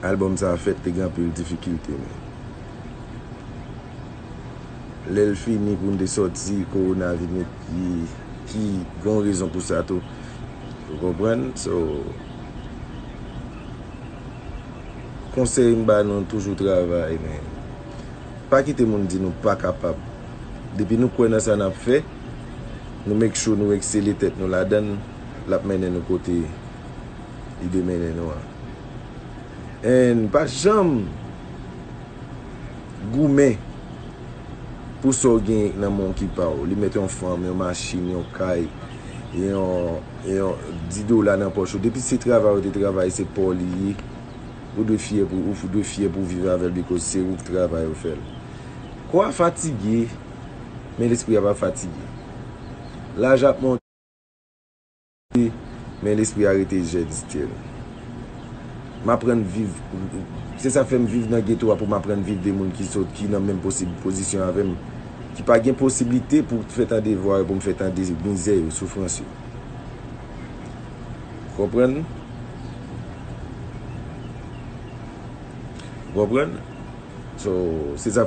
Album sa fèt te gen anpil difikilte men lèl fini poun te sòti korona vin met pye ki gon rezon pou sa tou ou konprann so konsèy m ba nou toujou travay men pa kite moun di nou pa kapab depi nou kwè nan sa nap fè nou make sure nou eksele tèt nou ladann lap mennen nou kote li de mennen nou an and pa janm goumen pou sa w genyen nan men w ki pa w li mèt yon fanm yon machin yon kay yon di dola nan pòch ou depi se travay ou te travay se pa w li ye ou dwe fyè pou ou dwe fyè pou w viv avèl bikòz se ou ki travay ou fèl kò a fatige men lespri a pa fatige laj ap monte. Wi, men lespri a rete jèn still. M aprann viv, se sa fè m viv nan geto a pou m aprann viv de moun ki sòt, ki nan menm pozisyon avè m, ki pa gen posiblite pou fè tande vwa yo, pou m fè tande mizè yo, soufrans yo. Ou konprann? Ou konprann? So, se sa.